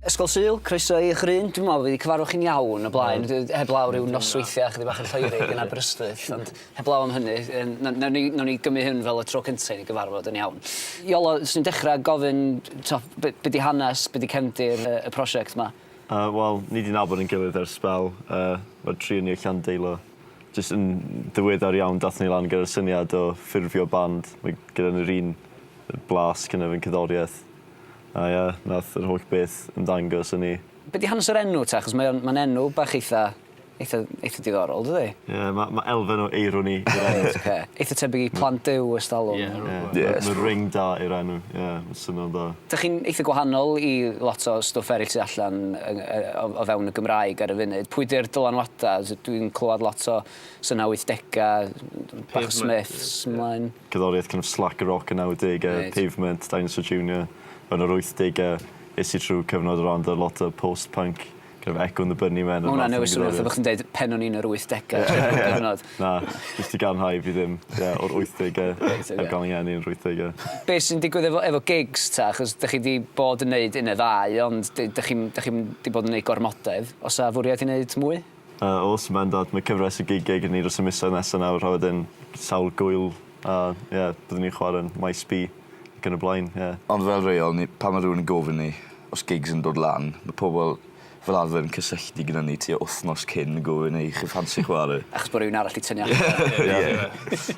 Ysgol Sul, croeso i Ghryn. Dwi'n meddwl bod fi 'di cyfarfod chi'n iawn o blaen, heblaw ryw nosweithiau chydig bach yn Lloegr yn Aberystwyth, ond heblaw am hynny, nawn ni nawn ni gymryd hyn fel y tro cynta' i ni gyfarfod yn iawn. Iolo, 'swn i'n dechra gofyn t'o' be' be' 'di hanes, be' 'di cefndir y y prosiect 'ma? Yy wel, ni 'di nabod ein gilydd ers sbel, yy ma'r tri o ni o Llandeilo. Jyst yn ddiweddar iawn dathon ni lan gyda'r syniad o ffurfio band, mae gyda ni'r un blas gynna efo'n cerddoriaeth. A ia, nath yr holl beth ymddangos i ni. Be di hanes yr enw ta? Achos mae o'n, mae'n enw bach eitha, eitha, eitha diddorol, dydi? Ie, ma' ma' elfen o eironi i'r enw. Reit, ocê. Eitha tebyg i Plant Duw ers talwm. Ie, rywbeth fel 'na. Ie, ma' ma' ring da i'r enw, ie, ma'n swnio'n dda. Dych chi'n eitha gwahanol i lot o stwff eryll sy allan yng- yy o o fewn y Gymraeg ar y funud. Pwy di'r dylanwada? S- dwi'n clywed lot o So 'na wythdegau, bach o Smiths mlaen. Cerddoriaeth kind of slacker rock y nawdegau, Pavement, Dinosaur Junior. Yn yr wythdegau es i trwy cyfnod o ran dy lot o post punk, kind of Echo and the Bunnymen. Mae hwnna'n newid swnio fatha bod chdi'n deud pen o'n i'n yr wythdegau trwy bob cyfnod. Na, jyst i gadarnhau fi ddim o'r wythdegau, heb gael fy ngeni yn yr wythdegau. Be sy'n digwydd efo gigs ta? Achos dych chi 'di bod yn neud un neu ddau ond dych chi'm 'di bod yn neud gormodedd. Oes 'na fwriad i neud mwy? A o's ma'n dod ma' cyfres o gigiau gen ni dros y misoedd nesa nawr a wedyn sawl gŵyl a ie byddwn ni'n chware'n Maes B ac yn y blaen ie. Ond fel rheol ni pan ma' rhywun yn gofyn ni os gigs yn dod lan ma' pobol fel arfer yn cysylltu gyda ni tua wthnos cyn yn gofyn ei chi ffansi chware? Achos bo' rywun arall 'di tynnu allan. Ie.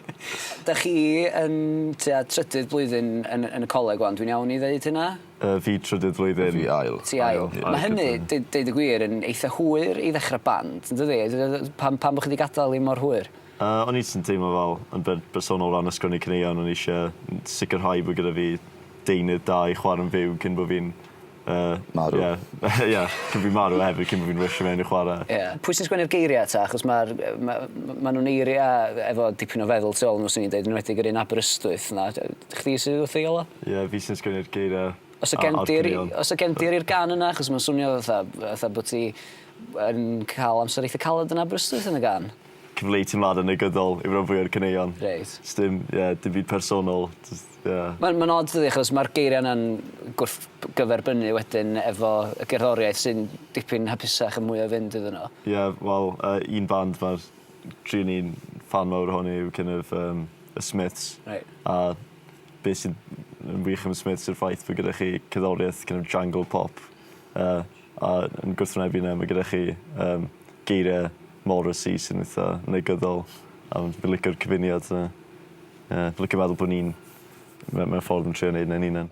Dych chi yn tua trydydd blwyddyn yn yn y coleg ŵan dwi'n iawn i ddeud hynna? Yy fi trydydd flwyddyn. Fi ail. Ti ail. Ail. Ma' hynny deu- deud y gwir yn eitha hwyr i ddechra band yndydi? Pam pam bo' chi 'di gadal 'i mor hwyr? Yy o'n i jyst yn teimlo fel yn ber- bersonol o ran ysgrifennu caneuon o'n i isie n- sicirhau bo' gyda fi deunydd da i chware'n fyw cyn bo' fi'n yy... Marw. Ie ie cyn fi marw a hefyd cyn bo' fi'n rwysio mewn i chware. Ie. Pwy sy'n sgwennu'r geiria' 'ta achos ma'r yy ma' ma' nw'n eiria' efo dipyn o feddwl tu ôl i n'w swn i'n deud enwedig yr un Aberystwyth 'na. Chdi sy wrth ei ola? Ie fi sy'n sgwennu'r geiria Os o gen di'r os o gen di'r i'r gan yna achos ma'n swnio fatha fatha bo ti yn ca'l amser eitha caled yn Aberystwyth yn y gan. Cyfleu teimlada negyddol yw ran fwya o'r caneuon. Reit. Sdim ie dim byd personol jyst ie. Ma'n ma'n od dydi achos ma'r geiria yna'n gwrth b- gyferbynnu wedyn efo y gerddoriaeth sy'n dipyn hapusach a mwy o fynd iddyn n'w. Ie wel yy un band ma'r Dw i'n ffan mawr ohoni yw kin' of yym y Smiths. Reit. A be' sy'n yn wych am y Smiths yw'r ffaith bo' gyda chi cerddorieth kin' of jangle pop yy a yn gwrthwynebu 'na ma' gyda chi yym geirie Morrissey sy'n itha negyddol a m- fi licio'r cyfuniad 'na. Ie fi licio meddwl bo' ni'n me- mewn ffordd yn trio neud 'na'n 'unan.